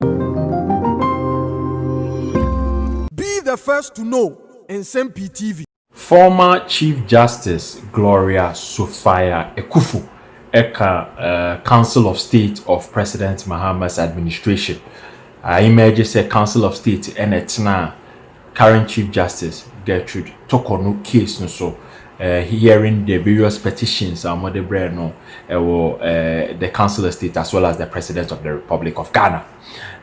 Be the first to know Nsɛm Pii TV. Former Chief Justice Gloria Sofia-Ekufo ka Council of State of President Mahama's Administration a ɛmɛɛgye sɛ Council of State na ɛtenaa current Chief Justice Gertrude Toko no case no so hearing the various petitions a wɔde brɛɛ no wɔ the Council of State as well as the President of the Republic of Ghana.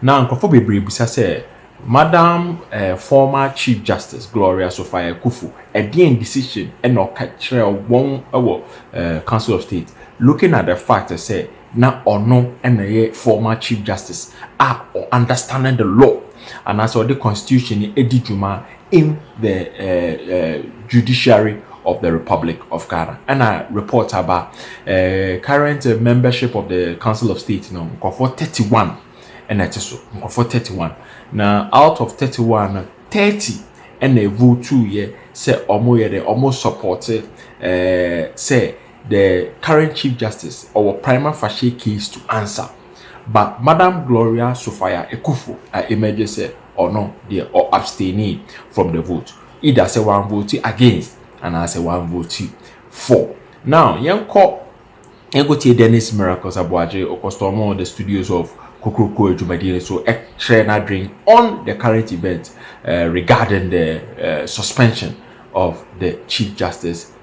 Na nkurɔfoɔ bebree bisa sɛ Madam former Chief Justice Gloria Sophia Akuffo ɛdeɛn decision na ɔka kyerɛɛ wɔn wɔ Council of State looking at the fact sɛ na ɔno na ɛyɛ former chief justice a ɔ understanding the law anaasɛ ɔde constitution no adi dwuma in the uh, uh, judiciary of the republic of ghana ɛna report aba uh, current uh, membership of the council of state no nkurɔfoɔ 31 ɛna ɛte so nkurɔfoɔ 31 na out of 31 no 30 ɛna ɛvotuuyɛ sɛ ɔmo yɛ dɛ ɔmo support uh, sɛ the current Chief Justice, ɔwɔ prima facie case to answer, but Madam Gloria Sofaya Ekufo a emerge sɛ ɔno deɛ ɔ abstainee from the vote, either sɛ wanvote against anaa sɛ wanvote for. Now yɛnkɔ yɛnkɔtie Dennis Miracles Aboagye, ɔkɔstɔɔmoo the studios of Kokroko adwumadie no so kyerɛɛ n'adwen on the current event regarding the suspension of the Chief Justice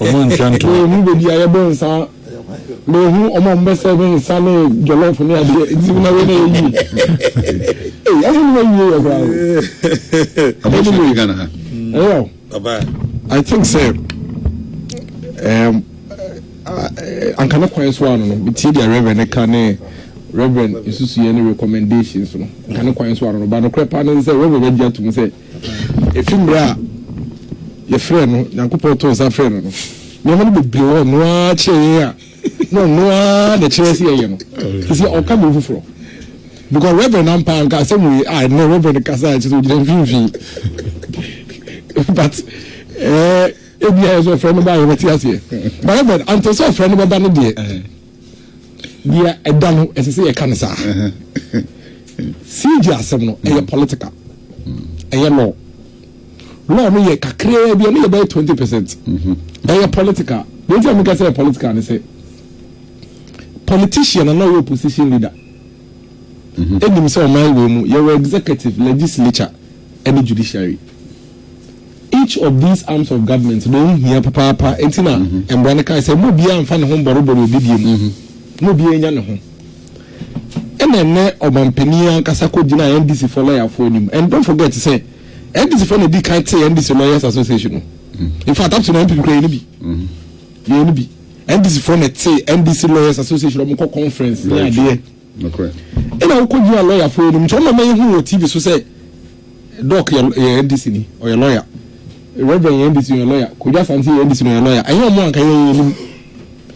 Ɔmo ntua ntow. Wei hu baabi a yɛbɔ nsa wei hu ɔmo a ɔmo bɛ sɛve nsa ne jɔlɔf ne adeɛ nti na wei na yɛ yie ee ɔmo ne wɔ yie yɛ koraa o ɔmo ne wɔ Ghana ha ɛyɛ o I think sɛ ɛɛm anka ne kwan so ano no tie deɛ reverend ne ka ne reverend nsusuiɛ ne recommendations no anka ne kwan so ano no ba no korɛ paa ne sɛ reverend agye atum sɛ Efi mmerɛ a yɛfrɛɛ no, Nyankopɔn too nsa frɛɛ no no, nneɛma no bebree wɔ hɔ a ɔno ara kyerɛ yɛn a na ɔno ara na ɛkyerɛ sɛ yɛyɛ no. Seesei ɔka biribi foforɔ. Because Reverend ampa anka asɛm wei a, ɛnnɛ Reverend kasa a ɛkyerɛ sɛ ɔgyina mfimfini. But eh, ebia yɛ sɛ ɔfrɛ no ba a yɛbɛte aseɛ. But Reverend, anto sɛ ɔfrɛ no bɛba no deɛ. Nea ɛda no, ɛsɛ sɛ yɛka no saa. CJ asɛm no, ɛyɛ political, ɛyɛ law. Law no yɛ kakraa bi, ɛno yɛ bɛyɛ twenty percent. Ɛyɛ political. Deɛ nti a meka sɛ ɛyɛ political ne sɛ, politician na ɔyɛ opposition leader ɛnim sɛ ɔman wei mu yɛwɔ executive, legislature, ɛne judiciary. Each of these arms of government na ɛho hia papaapa, enti na mmara no kae sɛ mma obiara mfa ne ho mmɔrebɔre obi bio mu, na obiara nya ne ho. Ɛna ɛnnɛ ɔmanpanin ankasa kɔgyinaa NDCfoɔ lɔyafoɔ anim, and don't forget sɛ NDCfoɔ na ɛdi kan tee NDC Lawyers Association no, in fact up to now NPP kura yɛn no bi, yɛn no bi, NDCfoɔ na ɛtee NDC Lawyers Association, wɔkɔ conference ne adeɛ. Nokorɛ. Ɛna wokɔ nyaa lawyer foɔ nom nti ɔmama yɛhu wɔ TV so sɛ Doc yɛ yɛ NDC ni ɔyɛ lawyer Reverend yɛ NDC ni ɔyɛ lawyer Kojo Asante yɛ NDC ni ɔyɛ lawyer ɛnyɛ ɔmo anka yɛn yɛn nim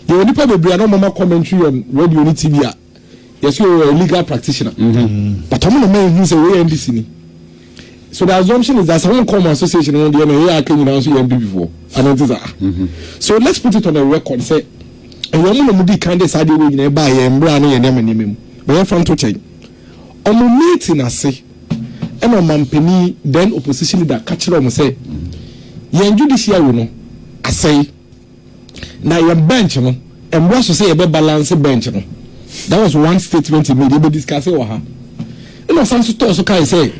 yɛwɔ nipa bebree a na ɔmama commentary on radio ne TV a yɛsɛ ɔyɛ legal practitioner but ɔmo na ma yɛhu sɛ wei yɛ NDC ni. So the assumption is that sɛ wonkɔ ɔmo association no ho deɛ na ɛyɛ aka nyinaa nso yɛ NPP foɔ ana ɛnte saa so let's put it on a record sɛ ɛyɛ ɔmo na ɔmo di kan de saa adeɛ wei nyinaa ɛbaa yɛn mmra ne yɛn nneɛma nneɛma mu ma yɛn fa nto kyɛn ɔmo meeting ase ɛna ɔmampanin then opposition leader ka kyerɛ ɔmo sɛ yɛn judiciary no asɛe. Na yɛn bench no, ɛmmra so sɛ yɛbɛ balance bench no. That was one statement he made. Yɛbɛ discuss wɔ ha. Ɛna ɔsan so tɔɔ so kae sɛ,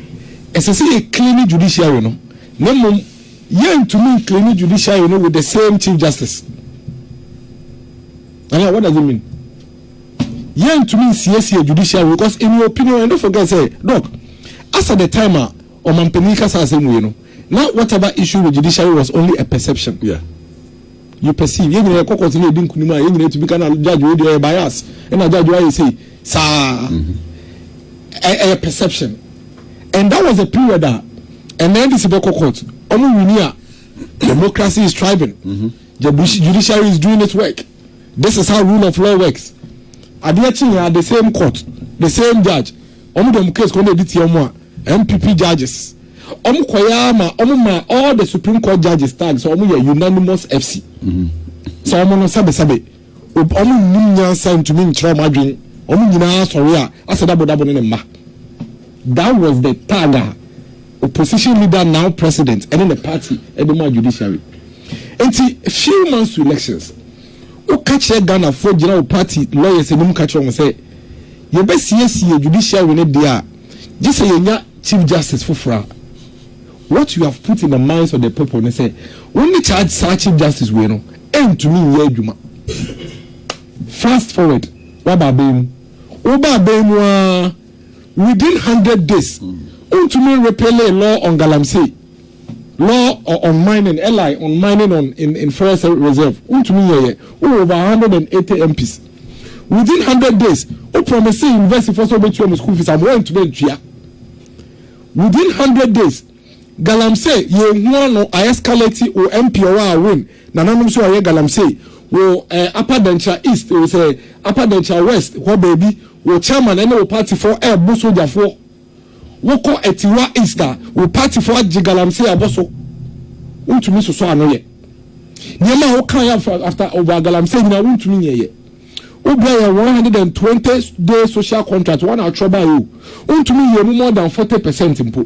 ɛsɛ sɛ yɛ clean judiciary no, na mmom yɛntumi nclean judiciary no with the same Chief Justice. Uh, what does it mean? Yɛntumi nsiesie judiciary because in your opinion, and don't forget sɛ, Doc, as at the time a Ɔmanpanin kasa asɛm wei no, na whatever issue with judiciary was only a perception. Yeah. You perceive. Yɛn nyinaa yɛkɔ kɔɔto na yɛdi nkunim a, yɛn nyinaa tumi ka na judge wei deɛ ɔyɛ bias, ɛna judge wei ayɛ sei. Saa. Mm-hmm. Ɛ ɛyɛ perception. And that was a period a ɛnna NDC bɛkɔ court. Wɔn wini a democracy is thriving. Mm-hmm. The judiciary is doing its work. This is how rule of law works. Adeɛ kyi yɛn the same court, the same judge. wɔn de wɔn case kɔ wɔn bɛdi tia wɔn a npp judges wɔn kɔ yɛ ama wɔn ma all the supreme court judges tag sɛ wɔn yɛ unanimous fc sɛ wɔn no sɛbesɛbe wɔn nnim nyansa ntumi nkyerɛ wɔn adwene wɔn nyinaa asɔre a asɛ dabodabo ne ne mma that was the tag a opposition leader now president ɛne ne party ɛde ma judiciary nti few months to elections. wo ka kyerɛ Ghana foɔ gyina wo party lawyers anim ka kyerɛ wɔn sɛ yɛ bɛ siesie judiciary no deɛ a gye sɛ yɛ nya chief justice foforɔ a what you have put in the minds of the people ne sɛ wo ne charge saa chief justice wei no ɛntumi nyɛ adwuma fast forward waba abɛn mu wo ba abɛn mu a within hundred days wontumi repele law on galamsey Law o on mining, LI, on mining on in in ferrous reserve, wontumi nyɛ yɛ, wowɔ over a hundred and eighty MPs, within hundred days wo promisee university foɔ sɛ wobɛtua mu school fees ama woantumi antua, within hundred days galamsey yɛnhu ano a escalate wo MP ɔwɔ a win nananom nso ayɛ galamsey wo eh, Upper Denkyira East wo sɛ Upper Denkyira West hɔ baabi wo chairman ɛne wo party foɔ ɛɛbo sogyafoɔ Wo kɔ atiwa east a wo party fo agye galamsey abɔ so wo ntumi sosɔ ano yɛ nneɛma a wo kae after after over galamsey nyinaa wo ntumi nyɛ yɛ wo brɛ yɛn one hundred and twenty day social contract wɔn na atwerɛ baeɛ o wo ntumi nyɛ mu more than forty percent mpo.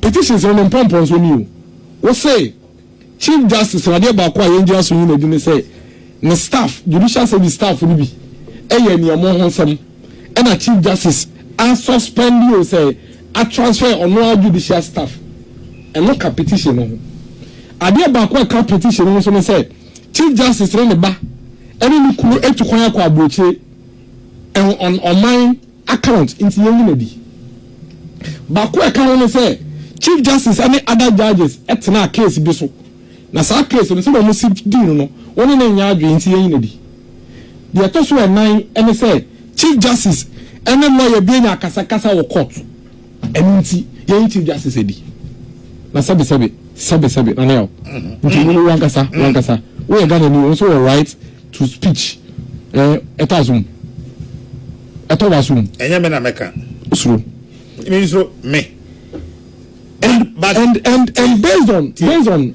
Petitions no ne mpɔmpɔnso ni o. Wose, Chief Justice na adeɛ baako a yɛngyina so nyi no adi ne sɛ ne staff, Judicial Service staff no bi yɛ nea ɛmɔ ho nsɛm ɛna Chief Justice a suspend o sɛ a transfer ɔno ara Judicial staff. Ɛno ka petition no ho. Adeɛ baako a ɛka petition no ho nso ne sɛ Chief Justice ne ne ba ɛne ne kunu atu kwan akɔ aburokyire ɛho ɔn ɔman account nti yɛnyi no adi. Baako a ɛka ho ne sɛ Chief Justice ne other judges tenaa case bi so na saa case no sɛdeɛ wɔsi dii no no wo ne no nyɛ adwene nti yɛnyi no adi. Deɛ ɛtɔ so ɛnan ne sɛ Chief Justice ne lawyer bi anya akasakasa wɔ court. Ɛno nti, yɛn ti dwa sesɛ di. Na sɛbesɛbe, sɛbesɛbe, na nɛl. Nti wo wankasa, wankasa, wo yɛ Ghana ni, wo nso wɔ right to speech. Eh, ɛtɔ aso mu. Ɛtɔ w'aso mu. Ɛnyɛ me na mɛka. Suro. Me nsuro, me. And, but. And, and, and based on, based on.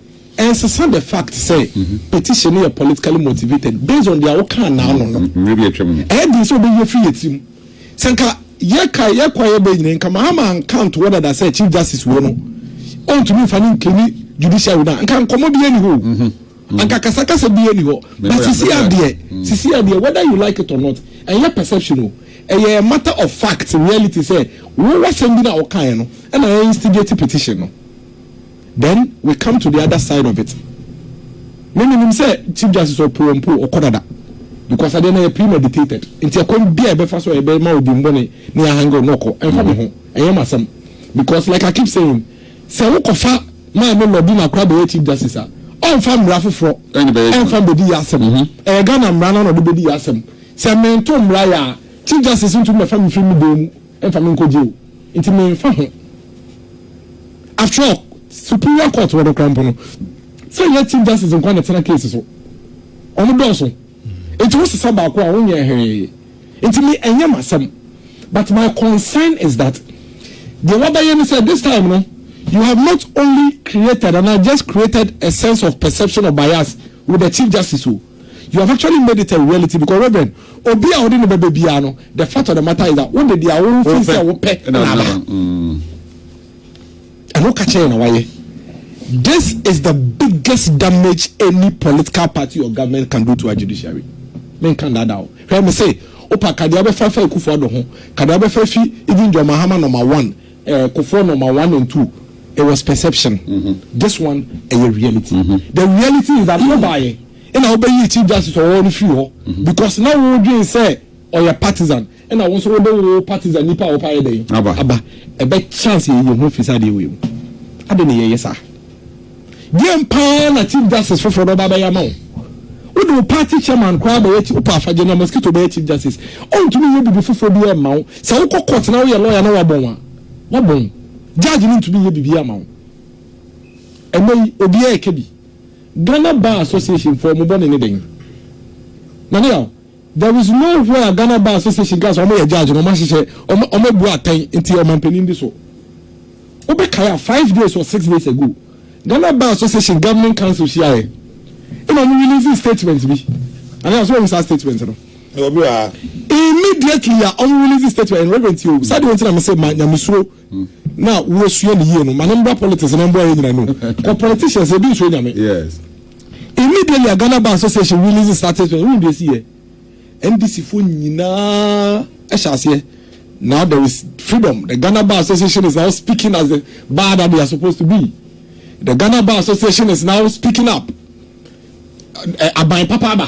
Ɛnsesa the fact sɛ petition no yɛ politically motivated based on deɛ wokaa naano no. Mmerɛ bi atwam no. Ɛyɛ den sɛ wobɛyi afiri yɛ tirim. Sɛ nka yɛkae, yɛkɔ a yɛba nyinaa, nka Mahama anka antoɔ dada sɛ Chief Justice wei no, ɔntumi mfa no nclaimi judiciary no a, nka nkɔmmɔ biara nni hɔ o, anka kasakasa biara nni hɔ. But sesia deɛ, sesia deɛ, whether you like it or not, ɛnyɛ perception o, ɛyɛ a matter of fact, reality sɛ wo w'asɛm bi no a wokaeɛ no na ɛ-instigate petition no. Then we come to the other side of it, me me nim sɛ Chief Justice ɔpoo ɔmpoo ɔkɔ dada because adeɛ no yɛ premeditated nti ɛkwan bia ɛbɛfa so a ɛbɛma odimbɔne ne ahange no ɔkɔ ɛmfa me ho ɛnyɛ m'asɛm because like I keep saying sɛ wokɔfa maame lɔdi na akora bɛyɛ Chief Justice a ɔmfa mmara foforɔ ɛmfa mbɛdi yɛ asɛm ɛyɛ Ghana mmara no na ɔde bɛdi yɛ asɛm sɛ mento mmara yɛ a Chief Justice ntumi mɛfa me firi me dan mu Mfa me nkogye o, nti memfa ho. After all, Superior Court wɔ no koraa mpo no, sɛ ɛnyɛ Chief Justice nko ara na ɛtena case so. Wɔdɔɔso. Nti wosesa baako a, wonyɛ hwee. Nti me, ɛnyɛ m'asɛm. But my concern is that deɛ woabɛyɛ ne sɛ, this time no, you have not only created anaa just created a sense of perception of bias with the Chief Justice o, You have actually made it a reality because Reverend, obi a ɔde ne bɛbɛ biara no, the fact of the matter is that wode deɛ wo fi sɛ wopɛ na aba. Ɛno woka kyerɛ na wayɛ. This is the biggest damage any political party or government can do to our judiciary. Menka ndaadaa o. Hwɛ me se, wopa kadeɛ wobɛfa fa Akufo-Addo ho, kadeɛ wobɛfa fi even John Mahama number one, Eh, Kofoɔ number one and two, it was perception, this one ɛyɛ reality. The reality is that wobaeɛ ɛna wobɛyii Chief Justice ɔwɔ no firi hɔ because na wodwen sɛ ɔyɛ partisan ɛna wo nso wode wo partisan nipa a wopɛ ayɛ dɛn aba ɛbɛ chance yɛyɛ ho firi sɛ adeɛ wei mu ade na yɛyɛ saa. Deɛn paa na chief justice foforɔ no ɔba abɛyɛ ama wo? Wode wo party chairman koraa abɛyɛ ti wopɛ afagye na mosquito bɛyɛ chief justice ɔntumi nyɛ biribi foforɔ biara mma wo sɛ wokɔ court na woyɛ lawyer na wabɔn a wabɔn judge no ntumi nyɛ biribiara ma wo ɛnɛ yi obiara ɛka bi Ghana Bar Association foɔ mo bɔne ne dɛn Nana Yaw There is no where Ghana Bar Association kaa sɛ wɔn yɛ judge na wɔn ahyehyɛ wɔn wɔn abu atɛn nti ɔmanpanin bi so. Wo bɛ kae a five days or six days ago Ghana Bar Association Governing Council hyia yɛ ɛna wɔn release statement bi anaa so wɔn saa statement no. Immediately a wɔn release statement no Reverend Tio sɛdeɛ wɔn ti na me se ma nyamesuro na wosua ne yie no ma no mbra politics na mboa yɛ nyina no kɔ politicians ebi nsuo nyame yes immediately a Ghana Bar Association release statistics ɛhu deɛ si yɛ NDC fo nyinaa ɛhyɛ aseɛ now there is freedom the Ghana Bar Association is now speaking as the bar that they are supposed to be the Ghana Bar Association is now speaking up aban papa aba.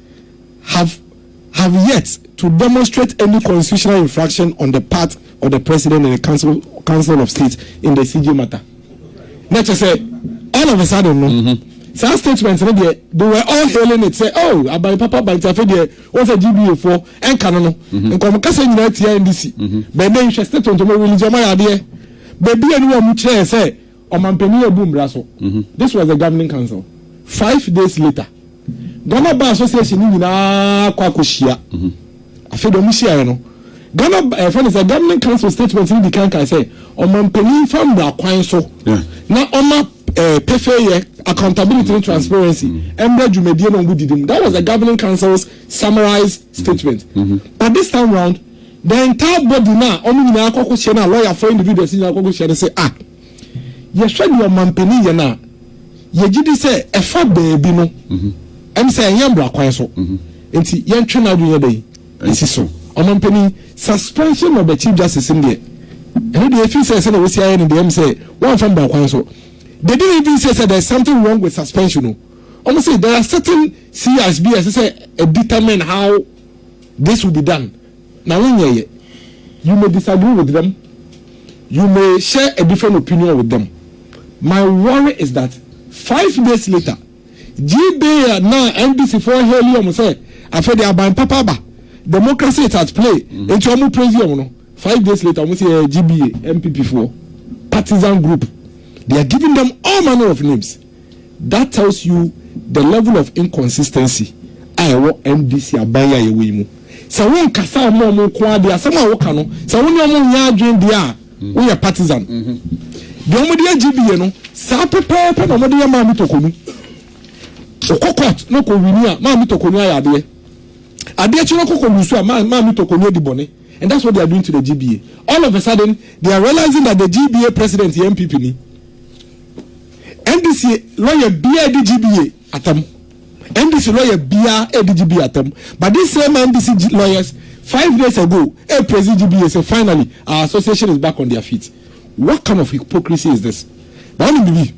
have have yet to demonstrate any constitutional infraction on the part of the president and the council council of state in the CJ matter na kyerɛ sɛ all of a sudden no mm -hmm. saa statement no deɛ they were all hailing it sɛ oh aban papa aban ti afei deɛ wɔn sɛ gba foɔ ɛnka no no mhm. nkɔm kasa nyinaa tia ndc mhm. bɛn bɛn nhwɛ state ntomo religion ɔmo ayɛ adeɛ beebi a ni wɔn kyerɛ sɛ. Ɔmanpanin abu mmara so. This was the governing council. Five days later, Ghana Bar Association no nyinaa kɔ akɔhyia. Afei deɛ wɔhyiaeɛ no, Ghana ɛfɛ no sɛ governing council statement no di kan kae sɛ ɔmanpanin mfa mmara kwan so na ɔma eh, pefeeyɛ, accountability ne transparency mmra dwumadie no a wɔdidi mu. That was the governing council's summarized statement. But this time round, The entire body no a wɔn nyinaa kɔ ko hyɛ no a lawyer foɔ individuals nyinaa kɔ ko hyɛ no sɛ ah yɛhwɛ deɛ ɔmampanin yɛ no a yɛgye di sɛ ɛfa baabi no ɛne sɛ ɛnyɛ mmara kwan so nti yɛntwe n'adwene yɛ dɛn ɛsi so ɔmampanin suspension of the chief justice no deɛ ɛno deɛ ɛfiri sɛ sɛdeɛ wɔsi ayɛ no deɛ ɛm sɛ wɔamfa mmara kwan so they didn't even say sɛ there is something wrong with suspension no wɔn sɛ there are certain CIs bi a ɛsɛ sɛ determine how This will be done na wonyɛeɛ. You may disagree with them, you may share a different opinion with them, my worry is that five days later Gbae a na NDC foɔ hail wɔn sɛ afei deɛ aban papa aba, democracy is at play, nti wɔn praise wɔn no, five days later wɔn sɛ yɛyɛ Gbae, NPP foɔ partisan group, they are giving them all manner of names. That tells you the level of inconsistency a ɛwɔ NDC aban yi a yɛwɔ yi mu. Sɛ wo nkasa mma wɔn nko ara deɛ, asɛm a wo ka no, sɛ wo ne wɔn nyɛ adwene deɛ a, wo yɛ partisan. Deɛ wɔn de yɛ GBA no, saa pɛpɛɛpɛ na wɔn de yɛ Maame Tokonu. Wo kɔ court na ɔkɔ wini a, Maame Tokonu ayɛ adeɛ. Adeɛ kye no ɔkɔ kɔ lusu a, Maa, Maame Tokonu adi bɔne. And that's what they are doing to the GBA. All of a sudden, they are realizing that the GBA president yɛ NPP ni. NDC lɔya biaa edi GBA atam NDC lɔya biaa edi GBA atam but this same NDC lɔyas five days ago e prezi GBA sɛ finally our association is back on their feet what kind of hypocrisy is this na wɔn bibi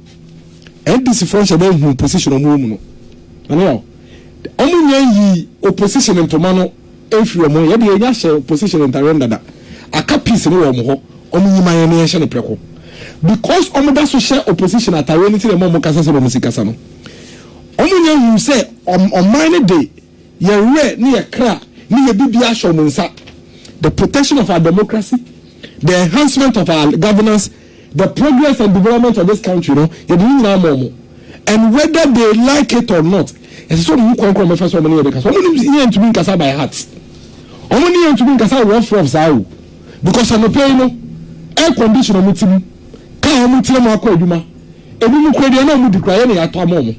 NDC fɔ nhyɛ dɛ hu position wɔn wɔ mu no na ne yɛ wɔn nyɛ yi opposition ntoma no. Ɛnfiri wɔn hɔ, yɛdeɛ yɛnya hyɛ opposition ntareɛ no dada, aka peace no wɔ wɔn hɔ, wɔn nyi ma yɛn na yɛnhyɛ no prɛko. Because wɔn da so hyɛ opposition atareɛ no nti na ɛma wɔn kasa sɛdeɛ wɔn si kasa no. Wɔn nnya nhuu sɛ ɔman no de yɛn werɛ ne yɛn kra ne yɛn biribiara ahyɛ wɔn nsa, the protection of our democracy, the enhancement of our governance, the progress and development of this country no yɛde ne nyinaa ma ɔmo and whether they like it or not ɛsɛ sɛ ɔmo hu kwan koro ɔmo bɛfa so ɔmo ne yɛn bɛ kasa ɔmo ne yɛn ntumi nkasa by heart ɔmo ne yɛn ntumi nkasa rough rough saa o because anɔpɛ yi no air condition ɔmo ti mu kaa ɔmo tiri mu akɔ adwuma ebi mu kura deɛ na ɔmo di kura yɛ na yɛatɔ ama ɔmo.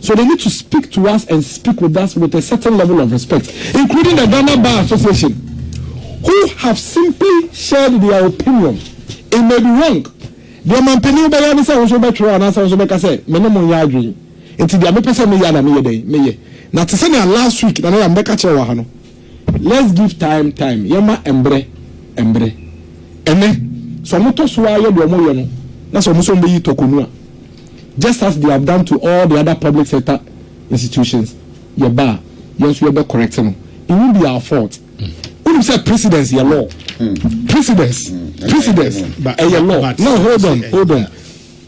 So they need to speak to us and speak with us with a certain level of respect including the Ghana Bar Association who have simply shared their opinion. It may be wrong. Deɛ mampanin wobɛyɛ ne sɛ wo nso wobɛtwerɛ anaasɛ wo nso wobɛka sɛ me ne mo nyɛ adwene nti deɛ mepɛ sɛ meyɛ na meyɛ dɛn meyɛ. Na te sɛnea last week Nana Yam bɛka kyerɛɛ wɔ ha no, Let's give time time yɛma mbrɛ mbrɛ. Ɛnɛ sɛ ɔmo tɔ so ara yɛ deɛ ɔmo yɛ no na sɛ ɔmo sɛ ɔmo bɛyi tɔkɔ nu a just as they have done to all the other public sector institutions yɛ ba a yɛn nso yɛ bɛ correct no it won't be our fault wonim sɛ precedence yɛ law precedence precedence ɛyɛ law now hold on hold on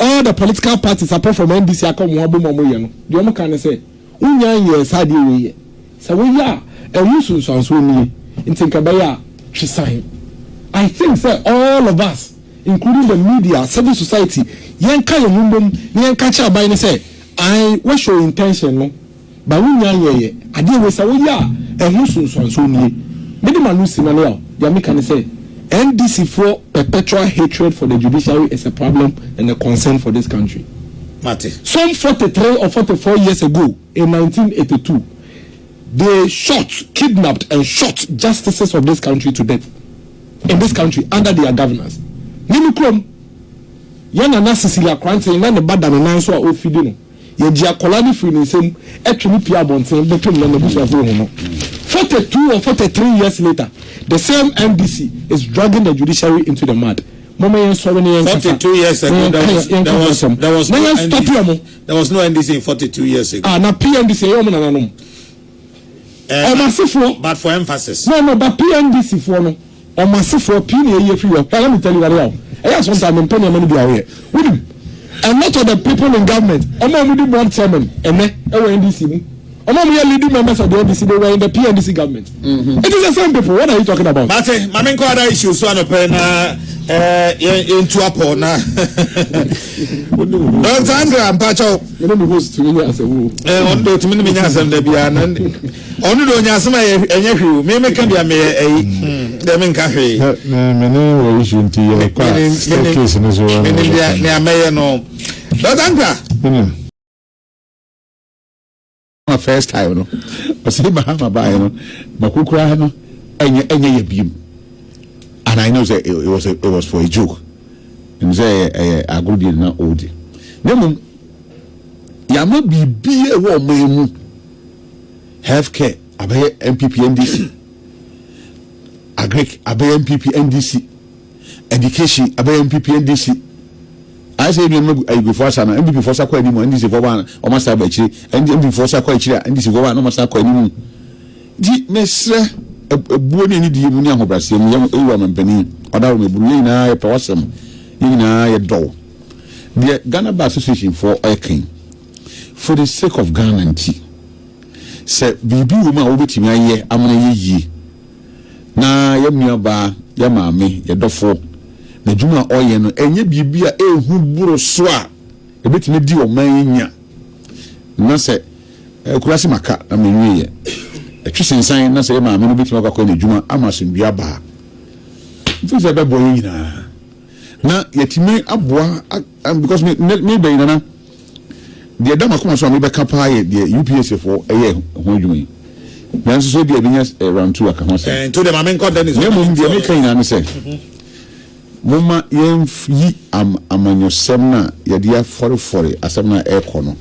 All the political parties apart from NDC aka wɔn ho abom a wɔyɛ no, deɛ wɔn ka ne sɛ, Wonnya nyɛɛ saa adeɛ wei yɛ. Sɛ woyɛ a, ɛho nsunsuansoɔ nie. Nti nka ɛbɛyɛ a, twe san. I think sɛ all of us, including the media, civil society, yɛnka yɛn ho mmom na yɛnka nkyerɛ aban no sɛ, ae, woahyɛ wo intention no, Ma wo nyan yɛ yɛ adeɛ wei sɛ woyɛ a ɛho nsonsuansoɔ nie me de m'ano si nane aw deɛ meka ne sɛ NDC foɔ perpetual hatred for the judiciary is a problem and a concern for this country mate. Some forty three or forty four years ago in nineteen eighty two they shot, kidnapped and shot justices of this country to death in this country under their governance. Me me kurom yɛn nana Cecilia Kranten na ne ba da ne nan so a ɔrefidi no. Yɛgye akwadaa no firi ne nsam twe no pue abɔnten de to no na n'abusuafo rehu no. Forty two or forty three years later, the same NDC is dragging the judiciary into the mud. Momma yɛnsɔre na yɛnkasa. Forty two years ago, there was, there was, there was no NDC. There was no NDC in forty two years ago. Ah, na PNDC ɛyɛ wɔn nananom. wɔn asefoɔ, but for emphasis. No, no, but PNDC foɔ no, wɔn asefoɔ pii na yɛyi afiri hɔ. Hwɛ, let me tell you whatever o, ɛyɛ a sometimes mempɛ nneɛma no bi a woyɛ. Wonim, a lot of the people in government, wɔn a wɔdi board chairman ɛnɛ wɔ NDC mu, wɔn a wɔyɛ leading members of the NDC, they were in the PNDC government. Mm-hmm. It is the same people, what are you talking about? Mate, mame nkɔ ada issue so anɔpɛ na eh, yɛntu apɔ na. Dɔntangra mpakyɛw. Me ne me host tumi nya asɛm o. Ɛɛ eh, ɔno de otumi ne me nya asɛm da biara na ɔno de onya asɛm a ɛnyɛ hwee o. Me me ka bia meyɛ ɛyi dɛ me nka hwee. Me me ne wɔ issue nti yɛ kɔ a staircase no so. Me ne bia ne amɛyɛ no. Dɔkta Nkra. ma first time no ɔsɛ mahama baeɛ no mako koraa no ɛnyɛ ɛnyɛ yɛ biem and i know sɛ it was a, it was for a joke ɛmu sɛ ɛyɛ ɛyɛ agorɔ bi na ɔredi na mmom yɛama biribi a ɛwɔ ɔman mu health care abɛyɛ npp ndc agric abɛyɛ npp ndc Education abɛyɛ npp ndc ayɛ sɛ yɛ nuanom agu ayigwe foɔ asa no npp foɔ sa kɔ anim a ndc foɔ ba a wɔn asa aba akyire ɛndi npp foɔ sa kɔ akyire a ndc foɔ ba a wɔn asa kɔ anim nti mesrɛ ɛbuo ne anidie mu ne ahobraseɛ mu yɛ ɛwura mampani ɔda wɔ mɛburu yɛ nyinaa yɛpɛ wasɛm yɛ nyinaa yɛ dɔw deɛ Ghana Bar Association foɔ ɔyɛ kan for the sake of Ghana nti sɛ biribi wɔ mu a wobɛtumi ayɛ amana yɛ yie Na yɛn nuabaa, yɛn maame, yɛn dɔfo, n'adwuma a ɔreyɛ no, ɛnyɛ biribi a ɛyɛ hu boro so a ɛbɛtumi adi ɔman yi nya. Na sɛ akurase maka na menwieɛ. Ɛtwe sensan na sɛ yɛn maame no bɛtumi akɔ akɔyɛ n'adwuma ama asomdwoeɛ aba a, mefiri sɛ ɛbɛboa yɛn nyinaa. Na yɛatumi aboa, because me, me, me bɛyi nana. Deɛ ɛda m'akoma so a mebɛka pa ara yɛ deɛ UPSfoɔ yɛ ho adwuma yi. Nanso so ebia yɛbɛnya round two aka ho asɛm. Na mmom deɛ meka nyinaa ne sɛ, momma yɛnyi amanyɔsɛm no a yɛde afɔrefɔre asɛm no a ɛrekɔ no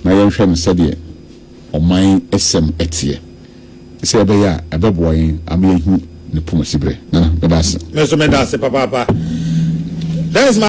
na yɛnhwɛ no sɛdeɛ ɔman asɛm teɛ. Sɛ ɛbɛyɛ a, ɛbɛboa yɛn ama yɛahu ne poma siberɛ. Nana, meda ase. Me nso meda ase papaapa. That is my.